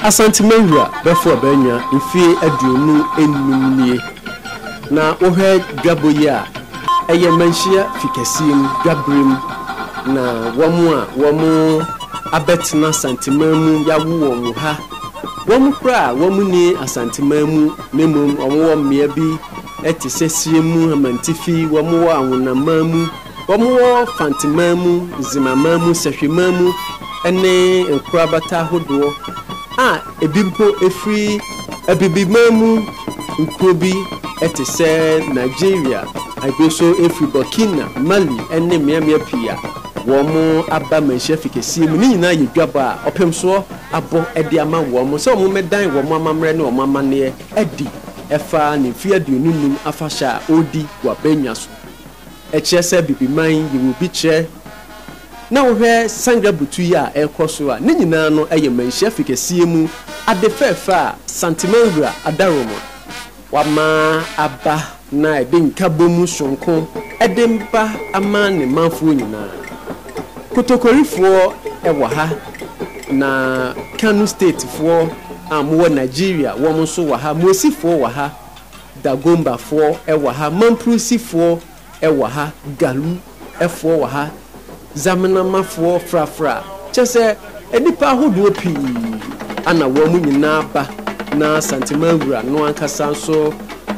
Asante Mawura bɛfo a bɛanya mfeɛ aduonu nnum nie na wohwɛ dwabɔ yi a ɛyɛ manhyia fikɛseɛ mu dwaberɛ mu na wɔn a wɔn abɛtena Asanteman mu yawo wɔn wɔ ha wɔn koraa a wɔn nni Asanteman mu na mmom wɔn wɔ mmea bi te sɛ Siremu Amantifi wɔn wɔ Awonaman mu Wɔwɔ Fanteman mu, Nzimaman mu, Sɛhweman mu ne nkorabata ahodoɔ a ebi mpo firi Abibiman mu nkuro bi te sɛ Nigeria, ebi nso firi Burkina, Mali ne mmeammea pii a wɔaba manhyia fi kɛseɛ mu. Ne nyinaa yɛ dwabɔ a ɔpemsoɔ abɔ de ama wɔn sɛ wɔmmɛdan wɔn amammerɛ ne wɔn amanneɛ adi ɛfa ne mfeɛ aduonu nnum afahyɛ a ɔredi wɔ Abannwa so. Ɛkyerɛ sɛ Bibiman yi wɔ bi kyerɛ na wohwɛ Sangre butu yi a ɛrekɔ so a, ne nyinaa no yɛ manhyia fi kɛseɛ mu ade fɛɛfɛ a Santimangra Adaromo wama aba na ɛde nkabom sononko de mpa ama ne manfoɔ nyinaa. Kotokorifoɔ wɔ ha na Kano Statefoɔ a wɔwɔ Nigeria wɔn nso wɔ ha, Muesifoɔ wɔ ha, Dagombafoɔ wɔ ha, Mampurusifoɔ wɔ ha, Galu foɔ wɔ ha, Zamenhomafoɔ, Frafra, kyerɛ sɛ nnipa ahodoɔ pii na wɔn nyinaa ba na Santeman Wura no ankasa nso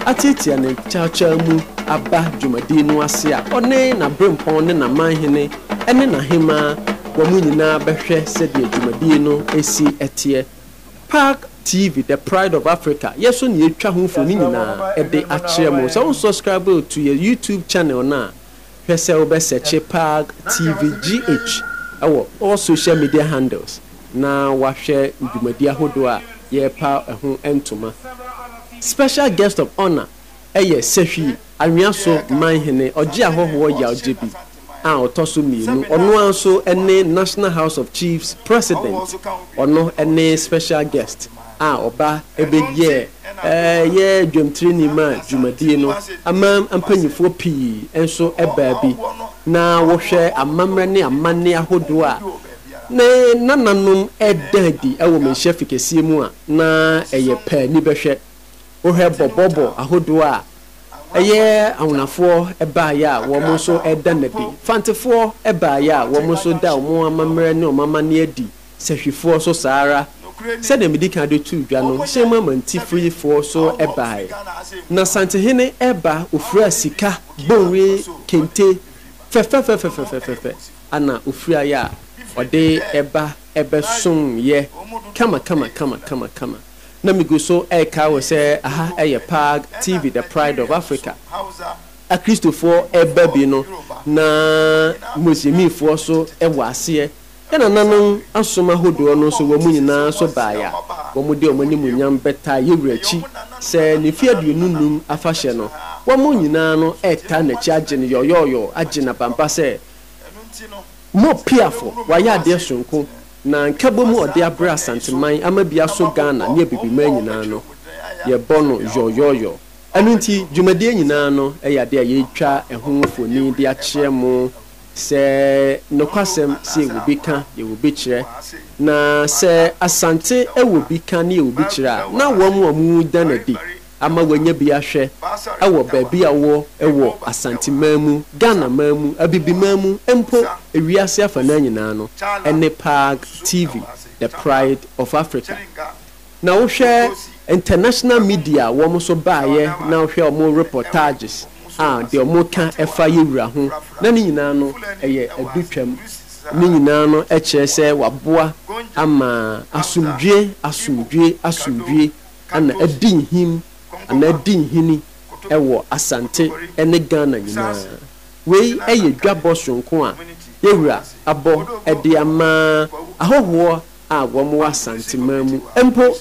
atiatia ne kyawkyaw mu aba dwumadie no ase a ɔne n'aberempɔn ne n'amanhene ne n'ahemaa wɔn nyinaa bɛhwɛ sɛdeɛ dwumadie no si teɛ Park TV the pride of Africa yɛ so na yɛtwa ho mfoni nyinaa de akyerɛ mo. Sɛ wo subscribe to yɛ YouTube channel no a, hwɛ sɛ wo bɛ sɛkye Park TV GH wɔ all social media handles na wahwɛ dwumadi ahodoɔ a yɛrepa ɛho ntoma. Special guest of honour. yɛ Sehwi, Anhwea so man hene, ɔgye ahɔhoɔ yawgyebi a ɔtɔ so mmienu, ɔno ara nso ne National House of Chiefs President, ɔno ne Special Guest a ɔba bɛyɛɛ yɛ dwamtireni ma dwumadie no, aman mpanimfoɔ pii nso baa bi, na wohwɛ amammerɛ ne amanne ahodoɔ a ne nananom da adi wɔ Manhyia Fikɛseɛ mu a, na ɛyɛ pɛ ani bɛhwɛ. Wohwɛ bɔbɔbɔ ahodoɔ a ɛyɛ Awonafoɔ baeɛ a wɔn nso reda no adi, Fantefoɔ baeɛ a wɔn nso da wɔn amammerɛ ne wɔn amanneɛ adi, Sahwifoɔ nso saa ara, sɛdeɛ medi kan de too dwa no, Hyɛnmu Amantififoɔ nso baeɛ. Na Santehene reba, ɔfiraa sika bonwe kente fɛfɛfɛfɛfɛfɛfɛ na ɔfiraeɛ a ɔde ba bɛsomeeɛ kamakamakama. na migu so rekae wo sɛ aha yɛ PAAG TV, The Pride of Africa. Akristofoɔ ba bi no na Muslimifoɔ nso wɔ aseɛ. Yɛn nananom asom ahodoɔ no nso wɔn nyinaa nso baeɛ a, wɔde wɔn animuonyam bɛtaa yɛn Wura akyi sɛ ne mfeɛ aduonu nnum afahyɛ no. Wɔn nyinaa no retaa n'akyi agye no yɔyɔɔyɔɔ, agye no abampa sɛ Mopiafoɔ, wayɛ adeɛ sononko. Na nkabom a ɔde abrɛ Asanteman ama bi aso Ghana ne Abibiman nyinaa no, yɛbɔ no yɔyɔyɔ. Ɛno nti, dwumadie nyinaa no yɛ adeɛ a yɛretwa ɛho mfoni de akyerɛ mo sɛ nokwasɛm sɛ yɛwɔ bi ka, yɛwɔ bi kyerɛ. Na sɛ Asante wɔ bi ka ne yɛwɔ bi kyerɛ a, na wɔn a wɔda no adi, ama wanya bi ahwɛ wɔ baabi a ɔwɔ wɔ Asanteman mu, Ghanaman mu, Abibiman mu, mpo wiase afanaa nyinaa no, ɛne Paag TV, The Pride of Africa. Na wohwɛ international media a wɔn nso baeɛ na wohwɛ wɔn reportages a, deɛ wɔka fa Yewura ho, na ne nyinaa no ɛyɛ adutwam. Ne nyinaa no kyerɛ sɛ wɔaboa ama asomdwoeɛ, asomdwoeɛ, asomdwoeɛ. ana adi nhim anaa adi nhini wɔ Asante ne Ghana nyinaa. Wei yɛ dwabɔ soronko a Yawura abɔ de ama ahɔhoɔ a wɔwɔ Asanteman mu mpo.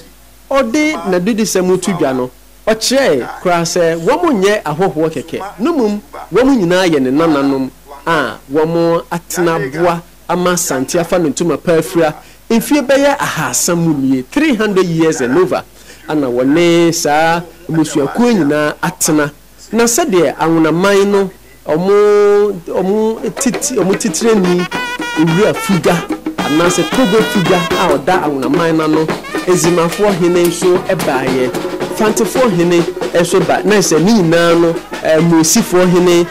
Ɔde n'adedisɛm to dwa no, ɔkyerɛɛe koraa sɛ wɔnyɛ ahɔhoɔ kɛkɛ no mmom wɔn nyinaa yɛ ne nananom a wɔatena aboa ama Asante afa no ntoma pa afira mfeɛ bɛyɛ ahaasa mu nie, three hundred years and over, ana wɔne saa mmusuakuo yi nyinaa atena. Na sɛdeɛ Anwonaman no wɔn wɔn wɔn titirani Owura Fuga anaasɛ Togo Fuga a ɔda Anwonaman no ano, Ezimafoɔ hene nso baeɛ, Fantefoɔ hene nso ba, na sɛ ne nyinaa no Mosifoɔ hene,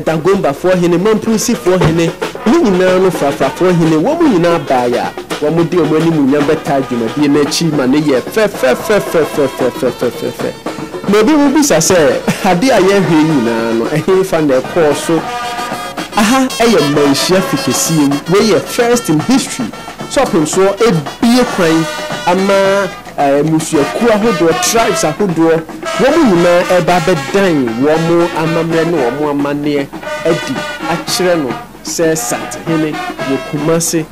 Dagombafoɔ hene, Mampurisifoɔ hene, ne nyinaa no Frafrafoɔ hene, wɔn nyinaa baeɛ a, wɔde wɔn animuonyam bɛtaa dwumadie no akyi ma no yɛɛ fɛfɛfɛfɛfɛfɛfɛfɛfɛ. Na ebinom bisa sɛ, Adeɛ a yɛrehwɛ yi nyinaa no, ɛhefa na ɛkɔɔ so? Aha yɛ mmanhyia fikesiem. Wei yɛ first in history, sɛ ɔpemsoɔ abue kwan ama. mmusuakuo ahodoɔ, tribes ahodoɔ, wɔn nyinaa reba abɛdan wɔn amammerɛ ne wɔn amanneɛ adi akyerɛ no sɛ Sathene wɔ Kumasi.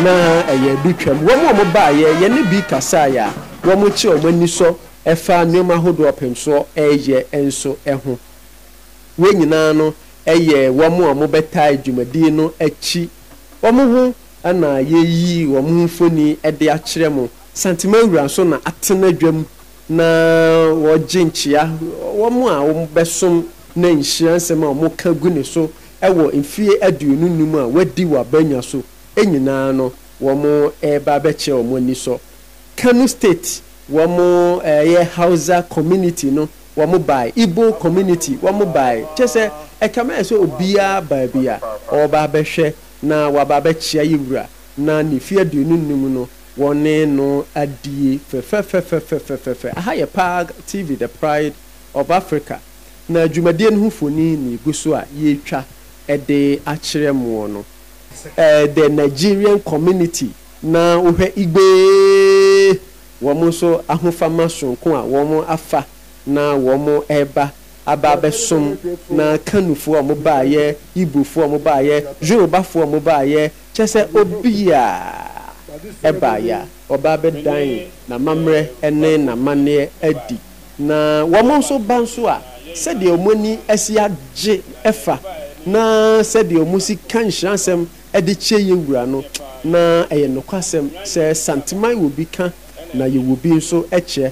Na ɛyɛ adutwam. Wɔn a wɔbaeɛ, yɛne bi kasaeɛ a, wɔkyerɛ wɔn anisɔ fa nneɛma ahodoɔ a ɔpemsoɔ reyɛ nso ho. Wei nyinaa no yɛ wɔn a wɔbɛtaa dwumadie no akyi. Wɔn ho na yɛayi wɔn ho mfoni de akyerɛ mo. Santima wura nso na atena dwam na ɔregye nkyea wɔn a wɔbɛsom na nhyira nsɛm a wɔka gu ne so wɔ mfeɛ aduonu nnum a wadi wɔ abannwa so nyinaa no wɔreba abɛkyerɛ wɔn anisɔ. Kano State wɔn ɛyɛ Hausa community no wɔn bae, Igbo community wɔn bae, kyerɛ sɛ ɛkame ayɛ sɛ obiara baa bi a ɔreba abɛhwɛ na waba abɛkyea yɛn wura, na ne mfe aduonu nnum no, wɔne no adie fɛfɛfɛfɛfɛfɛfɛfɛ. Aha yɛ Park TV, The Pride of Africa, na dwumadie no ho mfoni na egu so a yɛretwa de akyerɛ moɔ no. The Nigerian Community, na wohwɛ Igbe, wɔn nso ahofama soronko a wɔafa na wɔreba. aba abɛsom na Kanufo a ɔmo baayɛ, Igbofo a ɔmo baayɛ, Yorubafo a ɔmo baayɛ, kyerɛ sɛ obiaa ɛbaayɛ a ɔba abɛdan n'amammerɛ ɛne n'amanneɛ adi. Na wɔmo nso ba nso a sɛdeɛ ɔmo ani asi agye ɛfa na sɛdeɛ ɔmo si ka nhyira nsɛm ɛde kyɛ yɛ wura no na ɛyɛ nokwasɛm sɛ Santeman wɔ bi ka na yɛwɔ bi nso kyɛ.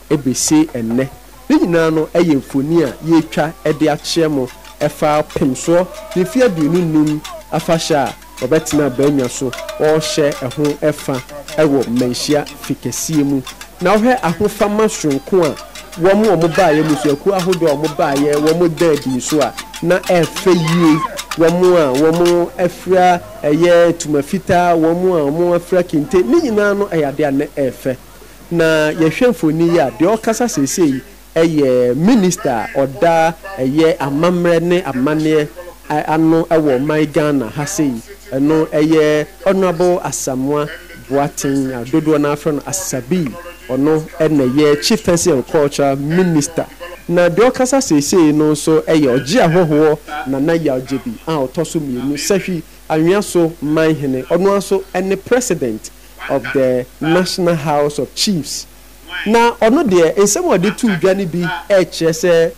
besi nnɛ. Ne nyinaa no yɛ mfoni a yɛretwa de akyerɛ mo ɛfa Pemsoɔ ne mfeɛ aduonu nnum afahyɛ a wɔbɛtena abannwa so wɔrehyɛ ɛho fa wɔ Manhyia Fi kɛseɛ mu. Na wohwɛ ahofama soronko a wɔn a wɔbaeɛ, mmusuakuo ahodoɔ a wɔbaeɛ, wɔda adi nso a, na ɛfɛ yie. Wɔn a wɔafira ɛyɛ ntoma fitaa, wɔn a wɔafira kente, ne nyinaa no yɛ adeɛ a na ɛfɛ. Na yɛhwɛ mfoni yi a, deɛ ɔrekasa seesei yi yɛ Minista a ɔda ɛyɛ amammerɛ ne amanneɛ ano wɔ ɔman Ghana ha sei. Ɛno yɛ Honourable Asamoah Boateng a dodoɔ no ara frɛ no Asabii. Ɔno na ɛyɛ Chief Fencing and Culture Minister. Na deɛ ɔrekasa seesei no nso yɛ Ɔgye Ahɔhoɔ Nana Yaw Gybi a ɔtɔ so mmienu, Sahwi Anhwea so Manhene. Ɔno ara nso ne President of the National House of Chiefs. Na ɔno deɛ, nsɛm a ɔde too dwa no bi rekyerɛ sɛ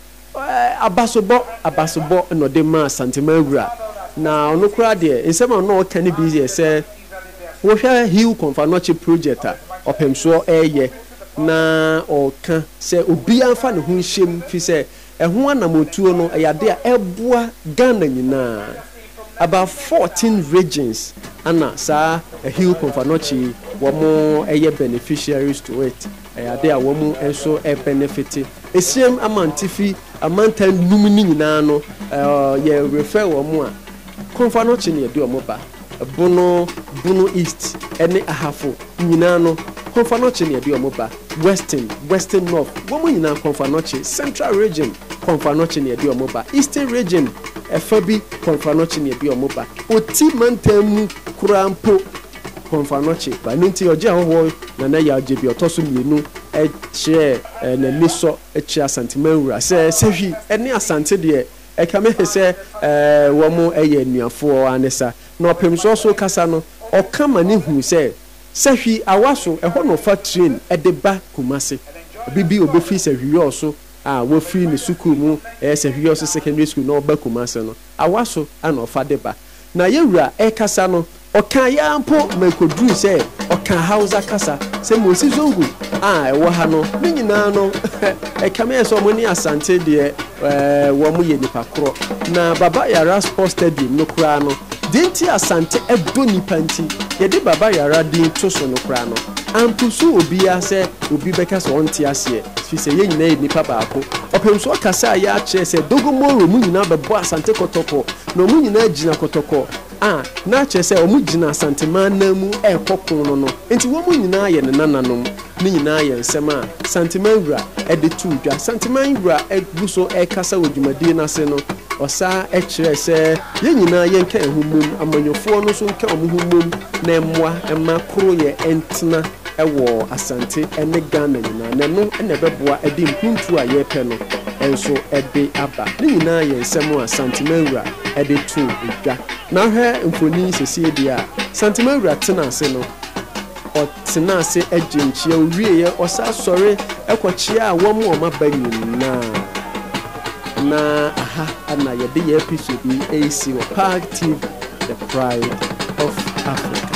abasobɔ abasobɔ na ɔde maa Santeman Wura. Na ɔno koraa deɛ, nsɛm a na ɔreka no bi yɛ sɛ, wohwɛ Hill Kɔmfanoɔkye project a Ɔpɛmsoɔ reyɛ, na ɔreka sɛ obiara mfa ne ho nhyɛ mu, firi sɛ, Ɛho anamɔtuo no ɛyɛ adeɛ a ɛboa Ghana nyinaa about fourteen regions ɛna saa Hill Komfanochi yi wɔn ɛyɛ beneficiaries to it ɛyɛ adeɛ a wɔn nso ɛbenefite Esiam Amantifi amantan nnum no nyinaa no yɛ refer wɔn a Komfanochi na yɛde wɔn ba. Bono, Bono East, ne Ahafo nyinaa no, Komfo-Anokye na yɛde wɔn ba, Western, Western North, wɔn nyinaa, Komfo-Anokye, Central Region, Komfo-Anokye na yɛde wɔn ba, Eastern Region, ɛfa bi, Komfo-Anokye na yɛde wɔn ba, Oti Mantam mu koraa mpo, Komfo-Anokye ba. Ɛno nti, ɔgye ahɔhoɔ Nana Yaw Gyebe, ɔtɔ so mmienu, kyerɛɛ n'anisɔ kyerɛ Asante Manwura sɛ Sahwi ne Asante deɛ, Ɛkame he sɛ wɔyɛ anuafoɔ aa ne sa. Na ɔpemsoɔ so kasa no, ɔka ma ne hu sɛ, Sahwi awa so, ɛhɔ na ɔfa train de ba Kumasi. Bi bi ɔbɛfiri Sahwiyɔɔ so a wafiri ne sukuu mu, ɛyɛ Sahwiyɔɔ so Secondary School na ɔba Kumasi no, awa so na ɔfa de ba. Na yɛn wura rekasa no, ɔkaeɛ ara mpo ma ɛkɔduruu sɛ ɔkaa Hausa kasa, sɛ Mosi Zongo a ɛwɔ ha no. Ne nyinaa no, ɛkame ayɛ sɛ wɔn ne Asante deɛ, wɔyɛ nnipa korɔ. Na Baba Yara Sports Stadium no koraa no, deɛ nti a Asante dɔ nnipa nti, yɛde Baba Yara din to so no koraa no, ampursue obiara sɛ obi bɛka sɛ ɔnte aseɛ, ɛfiri sɛ yɛn nyinaa yɛ nnipa baako. Ɔpemsoɔ kasaeɛ ara kyerɛɛ sɛ Dogo Moro mu nyinaa bɛbɔ Asante kɔtɔkɔ, Na wɔn nyinaa gyina kɔtɔkɔ a, na kyerɛ sɛ wɔgyina Asantema anan mu rekɔ ko no no. Enti wɔn nyinaa yɛ ne nananom. Ne nyinaa yɛ nsɛm a Santeman Wura de too dwa. Santeman Wura gu so rekasa wɔ dwumadie no ase no, ɔsan kyerɛɛ sɛ yɛn nyinaa yɛnka yɛn ho mmom, amanyɔfoɔ no nso nka wɔn ho mmom na mmoa mma koroyɛ ntena wɔ Asante ne Ghana nyinaa, na ɛno na ɛbɛboa de mpuntuo a yɛrepɛ no nso de aba. Ne nyinaa yɛ nsɛm a Santemawura de too dwa. Na wohwɛ mfoni yi sesie deɛ a, Santemawura tena ase no, ɔtena ase gyee nkyea, ɔwieeɛ, ɔsan sɔre kɔkyeaa wɔn a wɔaba nyinaa. Na aha na yɛde yɛn episode yi resi wɔ Pag TV, the pride of Africa.